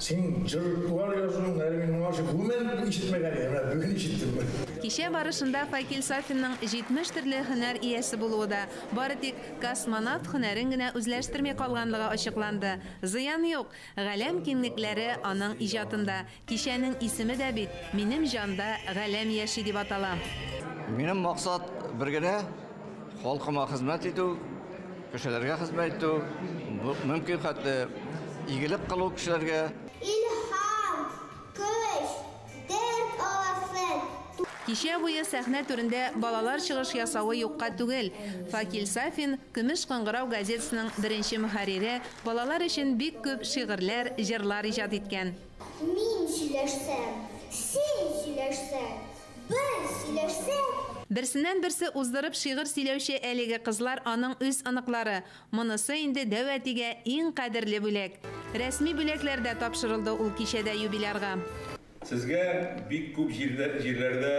Син җырлар язуың әле мин моңа чык гомерем бетеп ишетмәгән идем, менә бүген ишеттем. Кичә барышында Факил Сафинның 70 төрле һөнәр иясе булуы да, бары тик космонавт һөнәрен генә үзләштерми калганлыгы ачыкланды. Зыян юк, галәм киңлекләре аның иҗатында. Кичәнең исеме дә бит, Минем җанда галәм яши дип атала. Минем максат бер генә. Халкыма хезмәт итү, кешеләргә хезмәт итү, мөмкин хәтле игелек кылу кешеләргә. Кичә буе сәхнә түрендә балалар чыгыш ясавы юкка түгел. Факил Сафин, Көмеш кыңгырау газетасының беренче мөхәррире, балалар өчен бик күп шигырьләр, җырлар иҗат иткән. Мин сөйләшсәм, син сөйләшсәң. Бер сөйләшсәк. Берсеннән-берсе уздырып шигырь сөйләүче әлеге кызлар аның үз оныклары. Монысы инде дәү әтигә иң кадерле бүләк. Рәсми бүләкләр дә тапшырылды ул кичәдә юбилярга. Сезгә бик күп җирләрдә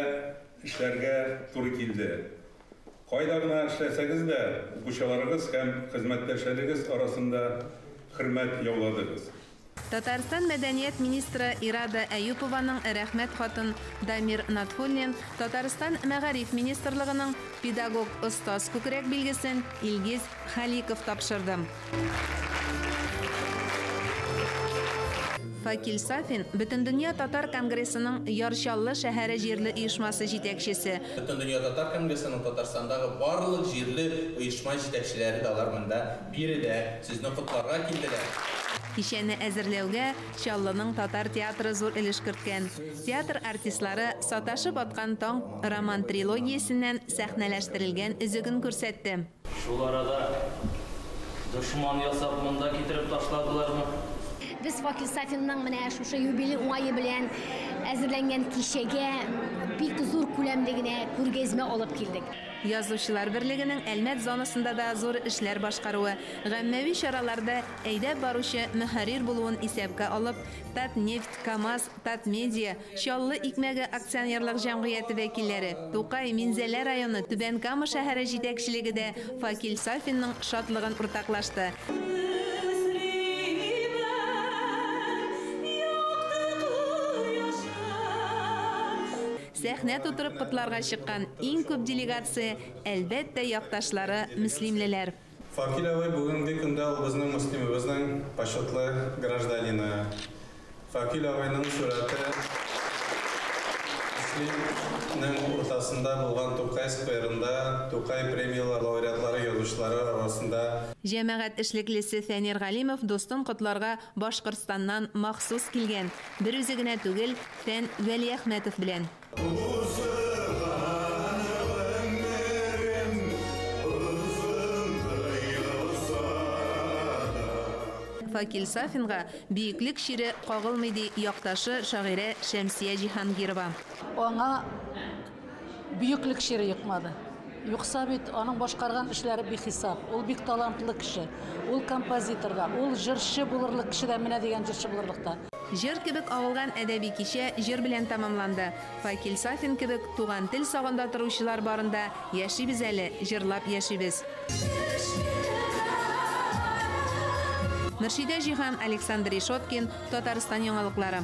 эшләргә туры килде. Кайда гына эшләсәгез дә, укучыларыгыз һәм хезмәттәшләрегез арасында хөрмәт яуладыгыз. Татарстан мәдәният министры Ирада Әюпованың Рәхмәт хатын Дамир Натхуллин, Татарстан Мәгариф министрлыгының Педагог остаз күкрәк билгесен Илгиз Халиков тапшырды. Факил Сафин, Бөтендөнья татар конгрессының Яр Чаллы шәһәре җирле оешмасы җитәкчесе, Бөтендөнья татар конгрессының Татарстандагы барлык җирле оешма җитәкчеләре дә алар монда Биредә сезне котларга килделәр. Кичәне әзерләүгә Чаллының татар театры зур өлеш керткән. Театр артистлары Саташып аткан таң роман-трилогиясеннән сәхнәләштерелгән өзеген күрсәтте. Шул арада дошман ясап монда китереп ташладылармы? Без Вакил Сафинның менә шушы юбилей уңае белән әзерләнгән кичәгә бик зур күләмле генә күргәзмә алып килдек. Язучылар берлегенең Әлмәт зонасында да зур эшләр башкаруы, гаммәви чараларда әйдәп баручы мөхәррир булуын исәпкә алып, Татнефть, КАМАЗ, Татмедиа, Чаллы икмәге акционерлык җәмгыяте вәкилләре, Тукай, Минзәлә районы, Түбән Кама шәһәре җитәкчелеге дә Факил Сафинның шатлыгын уртаклашты. Сәхнә тутырып котларга чыккан иң күп делегация, әлбәттә, якташлары, мөслимлеләр. Факил абый бүгенге көндә ул безнең Мөслимебезнең почетлы гражданины. Факил абыйның сурәте Мөслим нең уртасында булган Тукай скверында, Тукай премияләр лауреатлары язучылары арасында. Җәмәгать эшлеклесе Фәнир Галимов дустын котларга Башкортстаннан махсус килгән, бер үзе генә түгел, Фән Вәлиәхмәтов белән. Факил Сафинга Бөеклек чире кагылмый, ди якташы, шагыйрә Шәмсия Җиһангирова. Аңа Бөеклек чире йокмады. Юкса бит, аның башкарган эшләре бихисап. Ул бик талантлы кеше. Ул композитор да, ул җырчы булырлык кеше дә, менә дигән җырчы булырлык та. Җыр кебек агылган әдәби кичә җыр белән тәмамланды. Факил Сафин кебек туган тел сагында торучылар барында яшибез әле, җырлап яшибез. Мөршидә Җиһан, Александр Решеткин, Татарстан яңалыклары.